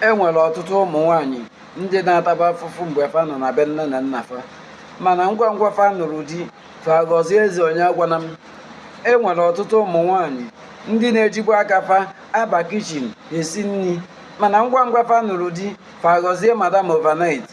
e nwere ọtụtụ ụmụ nwaanyị ndị na-atabu afụfụ mgbe fa nọ na be nne na nna fa mana ngwa ngwa fa nụrụ di fa ghọzie eze onye agwana m e nwere ọtụtụ ụmụ nwaanyị ndị na-ejibu aka fa aba kichin esi nri mana ngwa ngwa fa nụrụ di fa ghọzie madam overnight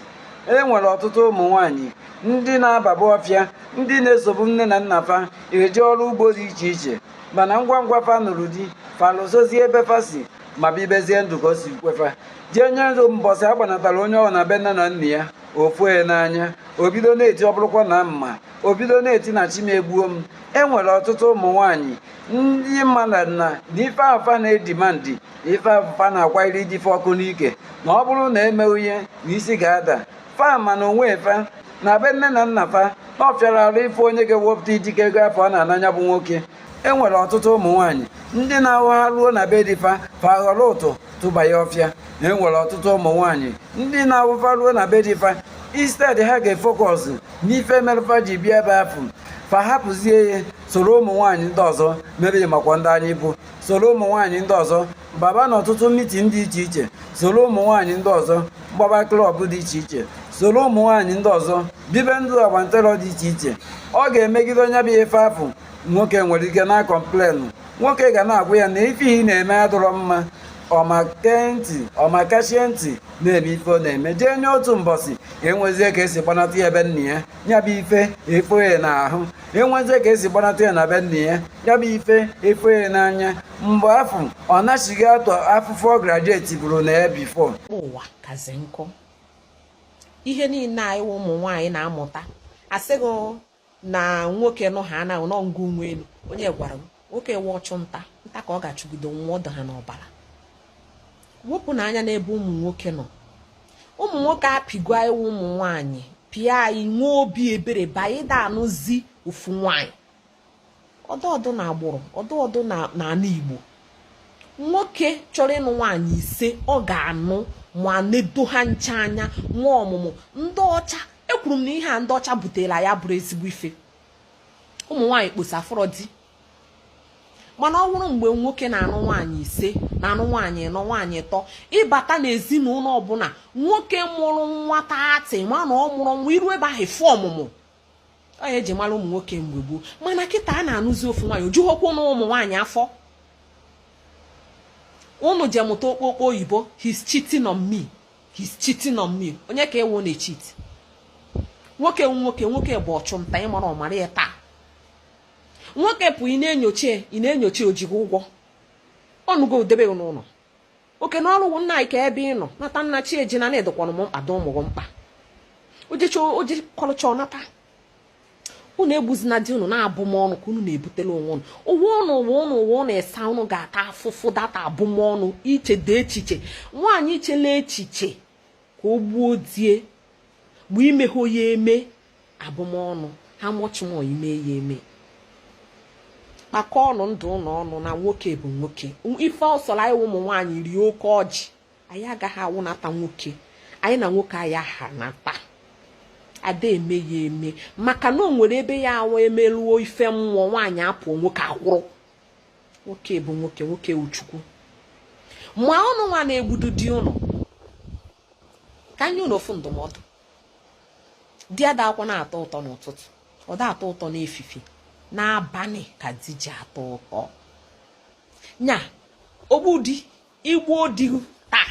e nwere ọtụtụ ụmụ nwaanyị ndị na-ababu ọfịa ndị na-esobu nne na nna fa eje ọrụ ugbo dị iche iche mana ngwa ngwa fa nụrụ di fa lozọzie ebe fa si ma bibezie ndụ ka o si kwefa jee nye ruo mbọsị a gbanatara onye ahụ na be nne na nna ya o fo ya n'anya o bido na-eti ọ bụrụkwa na m ma o bido na-eti na chi m egbuo m enwere ọtụtụ ụmụ nwanyị ndị ma na ife afụ fa na-edimandị ife afụ fa na-akwanyere di fa ọkụ n'ike na ọ bụrụ na emeghị ihe na isi ga-ada fa ma na onwe fa na be nne na nna fa na ọ fịara arụ ịfụ onye ga-ewepụta ijike ego afụ ọ na-ana nya bụ nwoke e nwere ọtụtụ ụmụ nwaanyị ndị na-awụ ha ruo na be di fa fa ghọrọ ụtụ tụba ya ọfịa e nwere ọtụtụ ụmụ nwaanyị ndị na-awụ fa ruo na be di fa instead ha ga-efokọs n'ife merụ fa ji bịa ebe afụ fa hapụzie ya soro ụmụ nwaanyị ndị ọzọ mere ị makwa ndị anyị bụ soro ụmụ nwaanyị ndị ọzọ baba na ọtụtụ mitin dị iche iche soro ụmụ nwaanyị ndị ọzọ gbaba klọb dị iche iche soro ụmụ nwaanyị ndị ọzọ bibe ndụ agbantelọ dị iche iche ọ ga-emegide nya bụ ife afụ nwoke nwere ike na-akọmplenụ nwoke ga na-agwa ya na ife ị na-eme adọrọ mma ọ makachie ntị na-eme ife ọ na-eme jee nye otu mbọsị e nwezie ka e si gbanata ya be nna ya ya bụ ife efo ya n'ahụ e nwezie ka e si gbanata ya na be nna ya ya bụ ife efo ya n'anya mgbe afụ ọ nachighata afụfụ ọ grajuetiburu na ya bifọ ụwa kazi nkụ ihe niile anyị ụmụ nwaanyị na-amụta asịghị na nwoke nọ ha anaghị nọ ngụ nwa elu onye gwara m nwoke wụ ọchụ nta nta ka ọ ga-achụgide nwụọ ọ dụ ha n'ọbara wepụnụ anya n'ebe ụmụ nwoke nọ ụmụ nwoke apịgo anyị ụmụ nwaanyị pịa anyị nwee obi ebere by ịda anụzi ofu nwaanyị ọdụ ọdụ na agbụrụ ọdụ ọdụ na ala Igbo nwoke chọrọ ịnụ nwaanyị ise ọ ga-anụ ma nedo ha ncha anya nwee ọmụmụ ndị ọcha ekwuru m na ihe a ndị ọcha butela anyị abụrọ ezigbo ife ụmụ nwaanyị kposa afụrọ di mana ọ bụrụ mgbe nwoke na-anụ nwaanyị ise na-anụ nwaanyị nọ nwaanyị tọ ị bata n'ezinụlọ ọ bụla nwoke mụrụ nwa thirty ma na ọ mụrụ nwa i ru ebe ahụ fụ ọmụmụ ọ ya e ji mara ụmụ nwoke mgbe gboo mana kịta a na-anụzi ofu nwaanyị o jughokwu ụnụ ụmụ nwaanyị afọ ụnụ je mụta okpokpo oyibo he's cheating on me he's cheating on me onye ka ewu na-echit nwoke nwoke nwoke bụ ọchụ nta ị marọ mara ya taa nwoke pụ ị na-enyocha ị na-enyocha o ji gị ụgwọ ọ nụgo gị debe n'ụlọ oke na ọrụ nna anyị ka ebe ị nọ nata na chi ejina na ị dịkwanụ m mkpa dị ụmụ gị mkpa o jekọrịchaa ọ nata unu egbuzina di unu na abụmọnụ ka unu na-ebutela onwe unu ụwa ụnụ asaa ụnụ ga-ata afụfụ data abụmọnụ ichedị echiche nwaanyị ichela echiche ka o gbuo di e mgbe imeghe ya eme abụmọnụ how much more ime ya eme kpakọ ọnụ ndụ ụlọ ọnụ na nwoke bụ nwoke ife ọ sọrọ anyị ụmụ nwaanyị rie oke ọjị anyị agaghị awụnata nwoke anyị na nwoke aya ahanata a da eme ya eme maka na o nwere ebe ọ ya-awụ e meruo ife mmụọ nwaanyị apụọ nwoke akwụrụ nwoke bụ nwoke nwoke wụ chukwu ma ụnụnwa na-egbudu di ụnụ ka m nye ụnụ ofu ndụmọdụ di adakwanụ atọ ụtọ n'ụtụtụ ọ da atọ ụtọ n'efife n'abalị ka di ji atọ ụtọ nya ogbu di i gbuo di taa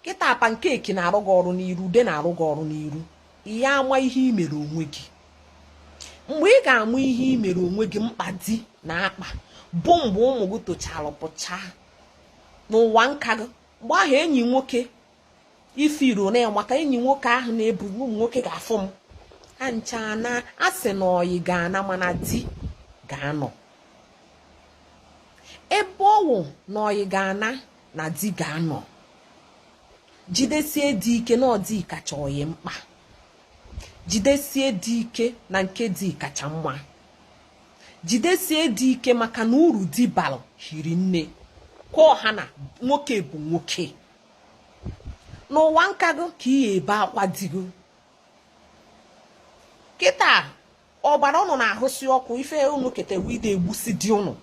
kịta pankeki na-arụ gị ọrụ n'iru ude na-arụ gị ọrụ n'iru ị ya-ama ihe i mere onwe gị mgbe ị ga-ama ihe i mere onwe gị mkpa di na-akpa bụ mgbe ụmụ gị tochara pụchaa n'ụwa nka gị mgbe ahụ enyi nwoke ifiru na ya maka enyi nwoke ahụ na-ebu ụmụ nwoke ga-afụ m ha ncha na a sị na ọyị ga-ana mana di ga-anọ ebe ọ wụ na ọyị ga-ana na di ga-anọ jidesie di ike na ọ di kacha ọyị mkpa jidesie di ike na nke di kacha mma jidesie di ike maka na uru di balụ hiri nne ka ọ ha na nwoke bụ nwoke n'ụwa nka gị ka ị ya-ebe akwa di gị kịta ọbara ụnụ na-ahụsi ọkụ ife ụnụ ketewe ide egbusi di ụnụ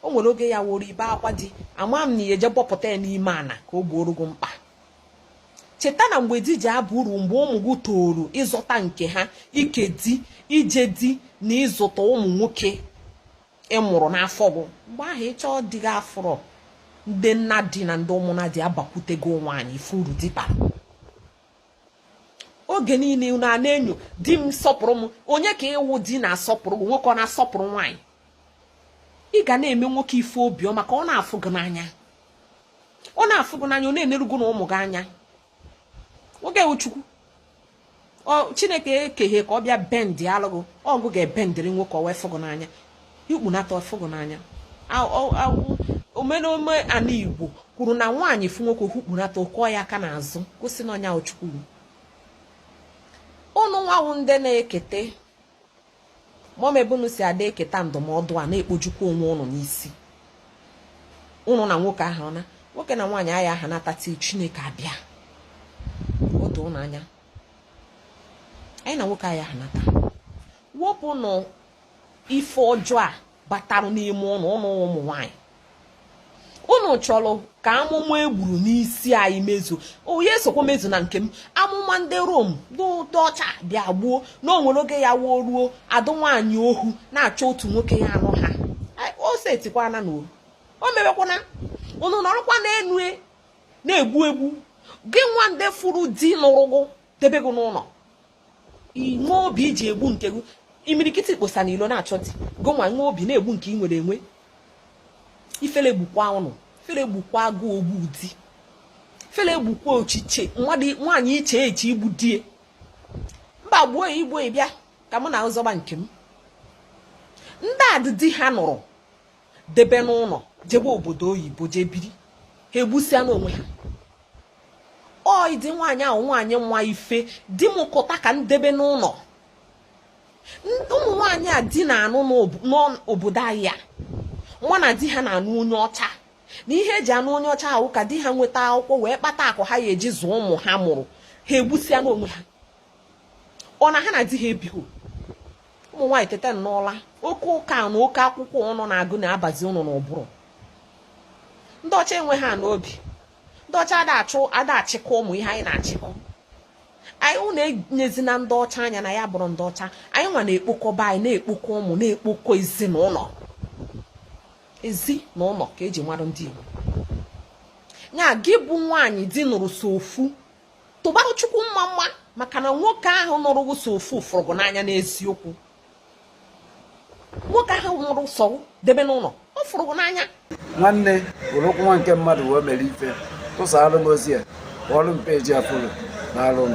o nwere oge ọ ya-awụrụ i bee akwa di ama m na ị ya-eje bọpụta ya n'ime ana ka o gbooro gị mkpa cheta na mgbe di ji aba uru mgbe ụmụ gị toru ịzọta nke ha ike di ije di na ịzụta ụmụ nwoke ị mụrụ n'afọ gị mgbe ahụ ị chọọ di gị afụrọ ndị nna di na ndị ụmụnna di abakwute gị nwaanyị ị fụ uru di bara oge niile unu a na-enyo di m sọpụrụ m onye ka ị wụ di na-asọpụrụ gị nwoke ọ na-asọpụrụ nwaanyị ị ga na-eme nwoke ife obiọma ka ọ na-afụ gị n'anya ọ na-afụ gị n'anya ọ na-eneru gị na ụmụ gị anya nwoke wụ chukwu chineke ekeghe ka ọ bịa bendịalụ gị ọ gị ga-ebendịrị nwoke o wee fụ gị n'anya hukpunata a fụ gị n'anya omenome ana igbo kwuru na nwaanyị fụ nwoke hukpunata ọ kụọ ya aka n'azụ gosi na ọ nya wụ chukwu ụnụnwa wụ ndị na-ekete mọm ebe unu si ada eketa ndụmọdụ a na-ekpojukwa onwe ụnụ n'isi ụnụ na nwoke aha nha nwoke na nwaanyị aya aha nhata till chineke abịa o doo ụnụ anya anyị na nwoke aya aha nhata wepụnụ ife ọjọọ a batarụ n'ime ụnụ ụnụ ụmụ nwanyị ụnụ chọrọ ka amụma egburu n'isi anyị mezu onye esokwa mezu na nke m amụma ndị Rom ndị ọcha bịa gbuo na o nwere oge ya wụ o ruo adụ nwaanyị ohu na-achọ otu nwoke ya anụ ha o setikwana na o mewekwana ụnụ nọrọkwa n'enu e, na-egbu egbu gị nwa ndị fụrụ di nụrụ gị debe gị n'ụlọ i nwe obi iji egbu nke gị imirikiti kposa n'ilo na-achọ di gị nwa nwe obi na-egbu nke ị nwere enwe ifele gbukwa ụnụ ifele gbukwa gị ogbu di ifele gbukwa ochiche nwaanyị iche eche igbu di e mba gbuo ya i gbuo ya ị bịa ka mụ na gị zọba nke m ndị adị di ha nụrụ debe n'ụlọ jebe obodo oyibo jee biri ha egbusịana onwe ha ọ ịdị nwaanyị ahụ nwaanyị nwa ife di m kụta ka m debe n'ụlọ ụmụ nwaanyị a di na-anụ n'obodo anyị a ma na di ha na-anụ onye ọcha na ihe eji anụ onye ọcha ahụ ka di ha nweta akwụkwọ wee kpata akụ ha ya eji zụọ ụmụ ha mụrụ ha egbusịana onwe ha ọ na ha na di ha ebighị ụmụ nwaanyị teta n'ụla oke ụka na oke akwụkwọ ụnụ na-agụ na-abazi ụnụ n'ụbụrụ ndị ọcha enwe ha n'obi ndị ọcha ada achụ ada achịkọ ụmụ ihe anyị na-achịkọ anyị ụnụ enezina ndị ọcha anya na ya bụrụ ndị ọcha anyị nwa na-ekpokọba anyị na-ekpokọ ụmụ na-ekpokọ ezinụlọ ezi na ụlọ ka eji mara ndị Igbo ya gị bụ nwaanyị di nụrụ sọ ofu tụbarụ chukwu mma mma maka na nwoke ahụ nụrụ gị sọ ofu fụrụ gị n'anya n'eziokwu nwoke ahụ nụrụ sọ gị debe n'ụlọ ọ fụrụ gị n'anya nwanne were ụkwụ nwa nke mmadụ wee mere ife tụsara m ozi a kpọọrọ m peji afụrụ na alụ m